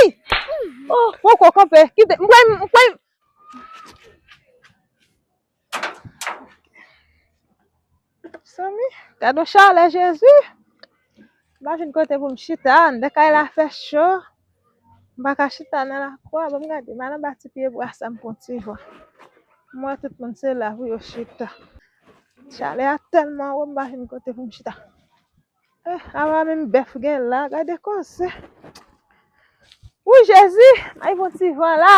Ey! Poko kanpe. Kite. M kwè m kwè Mezanmi, gad yon chalè Jezi. M pa jwenn kote pou m chita. Anndan kay la fè cho. M pa ka chita nan lakou a. Bon m gade, m al anba ti pyebwa sa m pran ti van. M wè tout moun se la pou yo chita. Chalè a tèlman wo m pa jwenn kote pou m chita. Eh, Awa menm bèf gen la, gade koze. Wouy Jezi, ay gon ti van la,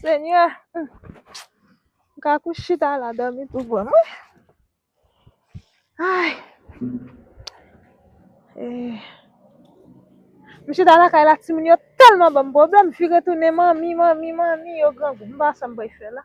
Senyè. M ka kou chita la dòmi tou bon. Wouy, ay. Eh. M chita lakay la timoun yo tèlman banm pwoblèm, m vire tounen manmi, manmi, manmi, yo grangou. M pa wè sa m pral fè la.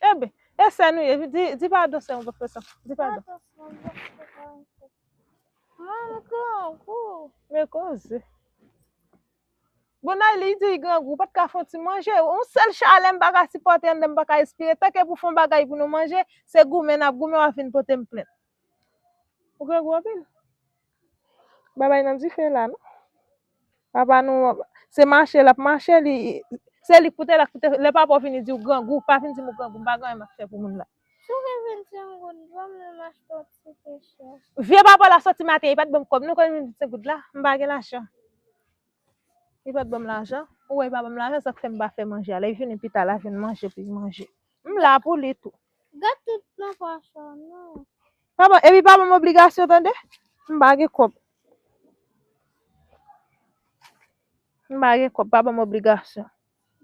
Enben, e sè nou ye, di, di padon sè mwen pafè sa, di padon. Men koze. Bon Nayli li di li grangou, ou pat ka fon ti manje, on sèl chalè m pa ka sipòte anndan m pa ka respire, tanke pou fon bagay pou nou manje, se goumen n ap goumen w ap vin pote m plent. Ou grangou anpil. Babay nan dife la non. Papa nou se mache l ap mache li se li k pou te la k pou te lè papa w vini di w grangou pa vin di m ou grangou m pa gen anyen m ap fè pou moun la. Vye papa la soti maten li pa t ban m kòb non kòb m vin di w 5 goud la m pa gen lajan. Li pa t ban m lajan ou wè li pa ban m lajan sa k fè m pa fè manje a lè l vini pita la vin manje pou l manje. M la pou li tou. Gat tout nan pòch ou non. Pa ban, epi pa banm obligasyon tande. M pa gen kòb. M pa gen kòb, pa banm obligasyon.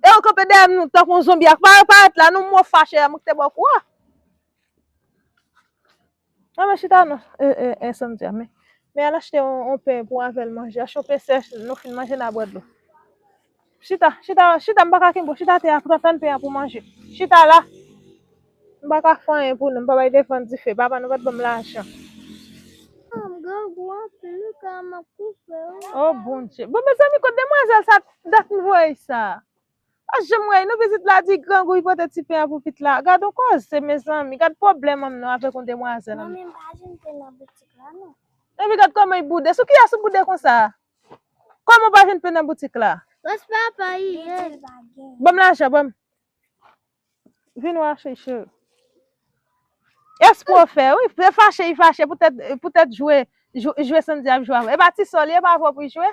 E ou kanpe dèyè m tankou yon zonbi ak pa parèt la non mò fache a m k te ba w kou a. An mwen chita nan en samdi a men men al achte on pen pou avèl manje achte on pen sèch nou fin manje na bwè dlo chita chita chita m paka kenbe w chita atè a pran tann pen an pou manje chita la m paka fè anyen pou nou m pa bay defann dife papa nou pat banm lajan o bondye bon mezanmi kot demwazèl sa dat m voye sa. Pa janm rayi nou pitit la di grangouy pote ti pen an pou pit la gadon koze mezanmi gad pwoblèm manm nan avèk yon demwazèl anmweyy. Manmi m pa jwenn pen nan boutik la non. Epi gad kòman y boude sou kiyès ou boude konsa a kòman ou pa jwenn pen nan boutik la. Res pa pa yi ye. Banm lajan banm. Vin wè achte cheri. Espre w fè wi se fache yi fache poutèt poutèt jwe jwe Sandy ap jwe avèw epa ti sò li epa avèw pou yi jwe.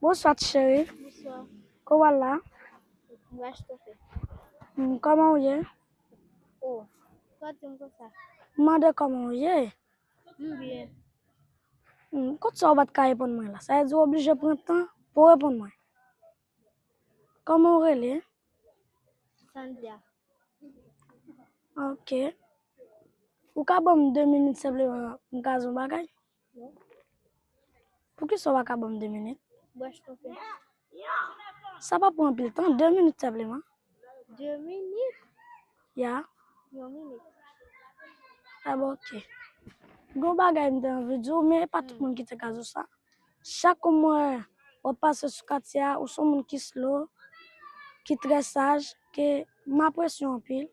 Bonswa ti cheri Kow wal la. Koman ou ye. M mande koman ou ye. Kot sa ou pat ka reponn mwen la. Sa vle di ou oblije pran tan pouw reponn mwen. Koman ou rele. Sandra. Ok. Ou ka banm 2 minit senpleman poum ka di yon bagay. Pou kisa ou pa ka banm 2 minit? Bwè chtonpè. Sa pa pran anpil tan, 2 minit senpleman. 2 minit? Ya. Yon minit. Ah bon, ok. Gon bagay m te anvi di w, men e pa tout moun ki te ka di w sa. Chak ou m wè w ap pase sou katye a, ou se yon moun ki slow, ki trè saj, ke m apresye w anpil,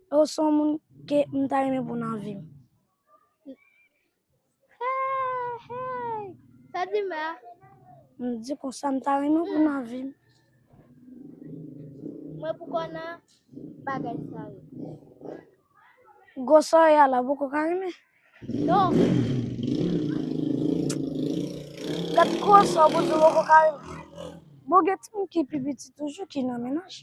e ou se yon moun ke m ta renmen pou nan vi m. Hey, sa di mè a? M di konsa m ta renmen pou nan vim. Mwen pou kon nan bagay sa yo. Gosa ya la pou kon ka renmen. Non. Gat gosa pou di pou kon ka renmen. Bon gen ti m ki pi piti toujou ki nan menaj.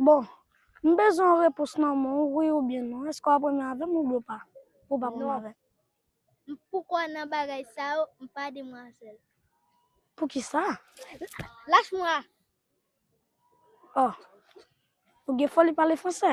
Bon, m bezwen yon repons nan men w, wi oubyen non. Èske w ap renmen avè m oubyen w pa? Ou p ap renmen avè m? M pou kwè nan bagay sa yo, m pa demwazèl. Poukisa? Lach mwa! Oh, ou gen foli pale franse!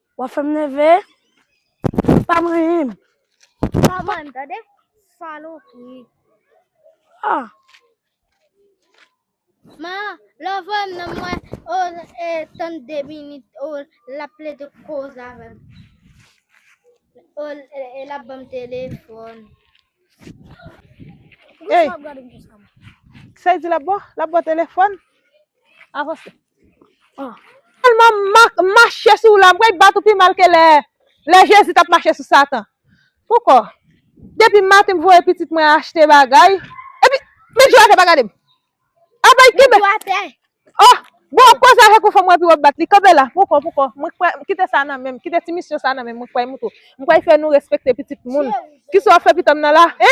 Wap fem neve. Pa manyenm. Pa manyenm tande. Salopri. Ah. Ma, lò vwèm nan mwen, o, e, tann de minit, o, la plede koz avèm. O, e, la banm telefon. Ey. Sa di la bò? La bò telefon? Avanse. Sèlman mak mache sou w la m kwè y bat ou pi mal ke lè Jezi t ap mache sou Satan. Poukò? Depi maten m voye pitit mwen achte bagay epi met jou atè pa gade m. Apa y kenbe o bon w ap koze avèk yon fanm w epi w ap bat li kenbe la poukò poukò mwen kwè kite sa nan men m kite ti misyon sa nan men m mwen kwè y moutre m kwè y fè nou respekte pitit moun kisa w ap fè pitanm nan la e?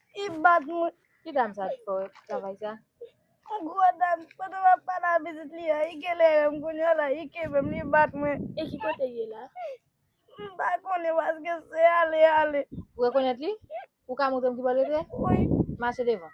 I bat mwen. Ki dam sa ki fè travay sa? Yon gwo dam, pandan map pale a pitit li an, i kelere m kounya la, i kenbe m, li bat mwen. E ki kote l ye la? M pa konnen paske se ale ale. Ou rekonèt li? Ou ka montre m ki bò l rete? Wi. Mache devan.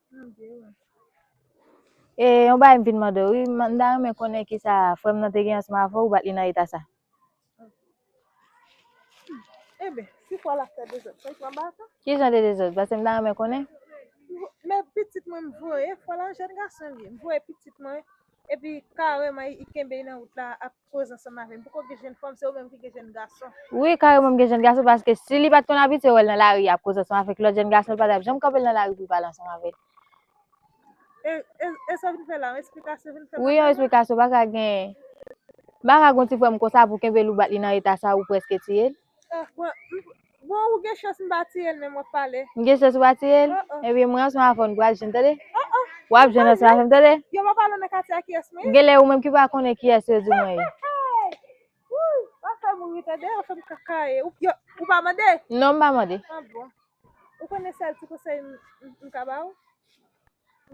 E yon bagay m vin mande wi, m ta renmen konnen ki sa frèm nan te gen ansman avè ou bat li nan eta sa. Ebe, si fwa la fè dezòd, fè fwa ba ta. Ki jan de dezòd? Pase m ta renmen konnen. Men pitit mwen m voye, fwa la jèn gason li. M voye pitit mwen, epi kareman i kenbe nan wout la ap Koz ansanm avèm poko gen jenn fanm se ou menm ki gen jenn gason. Wi kareman m gen jenn gason paske si li pat konn abitye wèl nan lari ap koze ansanm avèk lòt jenn gason li pa tap janm kanpel nan lari pou l pale ansanm avèl. E e e sa w vin fè la yon esplikasyon w vin fè Wi yon madanm? esplikasyon paka gen paka gon ti frèm konsa pou kenbel ou bat li nan eta sa ou prèske tiyel. M gen chans ou pa tiye l? Ebyen mwen ansanm avè w nou pral jwenn tande. W ap jwenn ansanm avè m tande. Genlè ou menm ki pa konnen kiyès yo di mwen ye. Non m pa mande.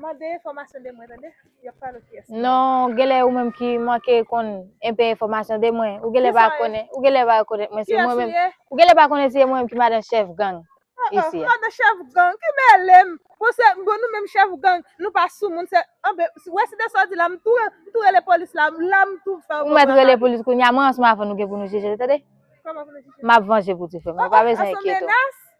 Mande enfòmasyon de mwen tande. Yo ap pale ki esman. Non, genlè ou menm ki manke konn enpe enfòmasyon de mwen. Ou genlè pa konnen, ou genlè pa konnen mwen se mwen menm. Ou genlè pa konnen se mwen menm ki madan chèf gang isi a. Madan chèf gang, ki mele m. Bon se, bon nou menm chèf gang, nou pa sou moun se, anben, ou wè se de sa w di la, m tou, m tou rele polis la, la m tou fè w konprann. Ou mèt rele polis kounya, mwen ansman avè w nou gen pou nou jije tande. Kòman pou nou jije? M ap vanje pou ti frè m nan, ou pa bezwen enkyete w.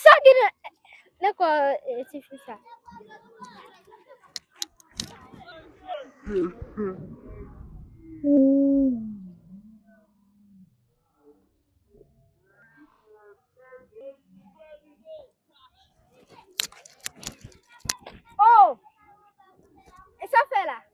Sa gen nan nan kò e, ti fi sa? Oh! E sa fè la?